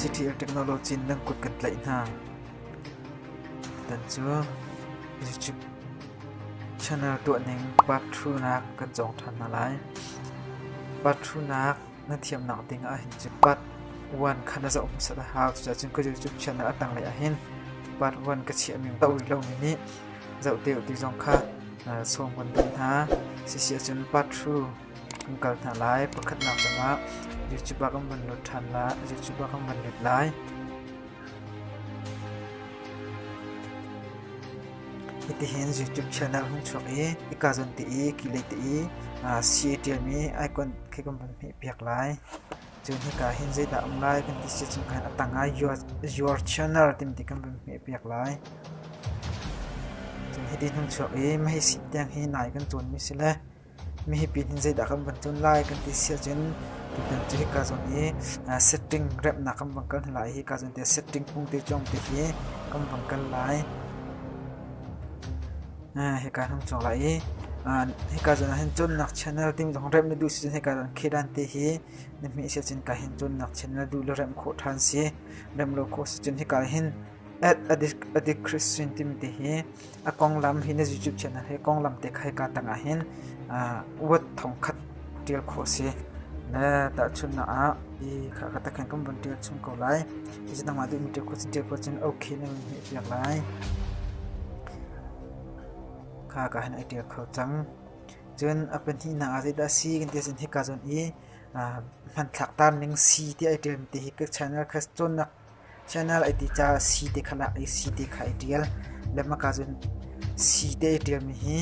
City technology nan kut kan tlaih hna. Tan cu YouTube channel tuahning part 2nak kan cawng ṭhan hna lai. Part 2nak Na thiamnak ding ah hin cun pat vuan kha na zoh hmasat a hau. Cucacun ka zul cu chiatnak a tanglei ah hin pat vuan ka chiahmi to rih lomi nih zoh te u ti zong kha sawm kan duh hna. Sisi ahcun part thru kan kal hna lai. Pakhatnak cang ah YouTube ah kan van lut ṭhan lai. YouTube ah kan van lut lai. Hitihin YouTube channel hun chuak i ikazawn te i kihlei te i sii a ṭialmi icon khi kan vun hmehpiak lai. Cun hika hin zeidah a um lai kan ti sicun khan a tang ah Your Channel timi ti kan vun hmehpiak lai. Cun hiti hnung chuak i mahhi sii tiang hi nai kan cawnmi si le Mihipi nih zeidah kan van tlun lai kan ti si ahcun tutan cu hika zawn i setting remhnak kan van kal hna lai. Hika zawn te setting hmung te cawng te hi kan van kal lai. Hika kan hung cawng lai i hika zawn ahhin cawnnak channel timi zong remh na duh si cun hika zawn Khedan te hi na hmeh si ahcun hika hin cawnnak channel duh le remh khawh ṭhan si. Remh lo khawh si cun hika hin at a di Christian timi te hi A konglam hi na zuchipchiahnak hi konglam te kha hika tangah hin word thongkhat ṭial khawh a si. Na tahchunhnak ah hi kha ka tak hin kan vun ṭial chung ko lai. Hi nangmah tu in ṭial khawh cun ṭial khawh cun okay na vun hmeh piak lai. Kha ka hin ai ṭial kho cang. Cun a pahnihnak ah zeidah a si kan ti ahcun hika zawn i hmanthlak tar ning si ti ai ṭialmi te hi ka channel kha cawnnak Channel ai ti caah sii te kha nak i sii te kha ai ṭial. Lebangmak ahcun sii te ai ṭialmi hi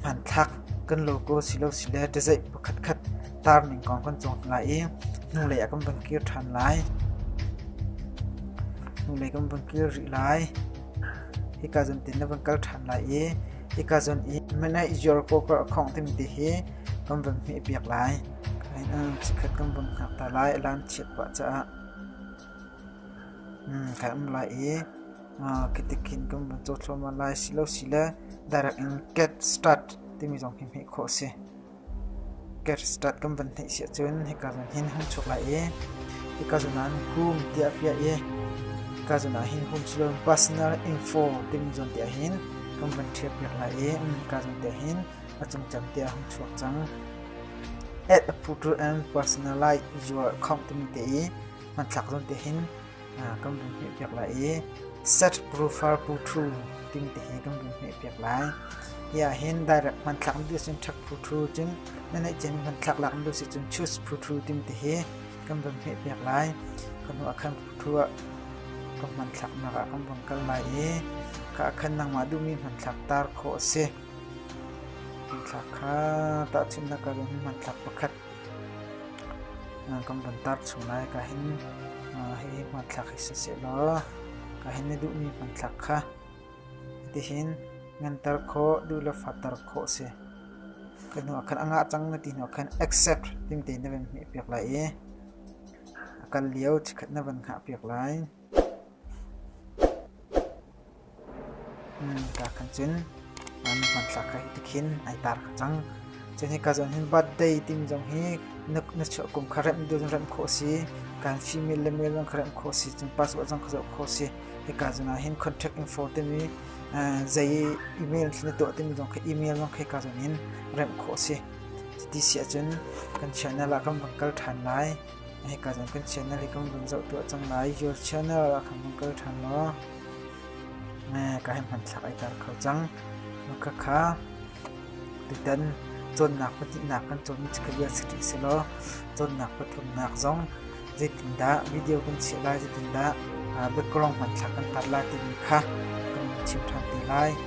hmanthlak kan logo silo sile ṭazeih pakhatkhat tarning kong kan cawn lai i hnulei ah kan van kir ṭhan lai. Hnulei kan van kir rih lai. Hika zawn te na van kal ṭhan lai i hika zawn i Midnight Your Poker a khawng timi te hi kan van hmeh piak lai. Chikkhat kan van hngak ta lai, a lan chiat pah caah. Kan um lai i kitikin kan vun caw thluahmah lai silosile direct in get start timi zong hi hmeh khawh a si. Get start kan van hneih si ahcun hika zun hin hung chuk lai i hika zun ah hum tiah a piah i hika zun ah hin hum silole personal info timi zon tiah hin kan van ṭhial piak lai i hika zun tiah hin a cungcam tiah a hung chuak cang. At a photo and personalized your khong timi te i hmanthlak zawn te hin kan vun hmeh piak lai i set profile photo timi te hi kan vun hmeh piak lai. Hiah hin direct hmanthlak na duh sin thak photo cun na neih ciami hmanthlak lak na duh si cun choose photo timi te hi kan vun hmeh piak lai. Ka hnu ah khan photo ah ka hmanthlak nak ah kan vun kal lai i ka khan nangmah duhmi hmanthlak tar khawh a si. Tithlak kha tahchunhnak ka in hmanthlak pakhat kan van tar chung lai ka hin hihi hmanthlak hi si seh law ka hin na duhmi hmanthlak kha hitihin nganter khawh duh le fatter khawh si. Ka hnu ah khan a ngah cang na ti hnu ah khan exec timte na van hmeh piak lai i a kal lio chikkhat na van hngah piak lai. kan cin. Hmanthlak ka hi ti khin ai tar ka cang. Cun hi ka zon hin birthday timi zong hi na chuah kum kha remh dun remh khawh si. Kan female le male zong kha remh khawh si. Cun passport zong kha zoh khawh si. Hi ka zon ah hin contact info timi zei email khi na tuah timi zong kha email zong khi ka zon in remh khawh si. Cuti si ahcun kan channel ah kan van kal ṭhan lai. Hika zong kan channel i kan vun zoh tuah cang lai. Your channel ah khan kan kal ṭhan law ka hei hmanthlak ai tar kho cang. Khakha tutan cawnnak pahnihnak kan cawnmi cu ka bia si rih si law cawnnak pathumnak zong zeitindah video kan chiah lai zeitindah background hmanthlak kan tar lai timi kha kan chim ṭhan te lai.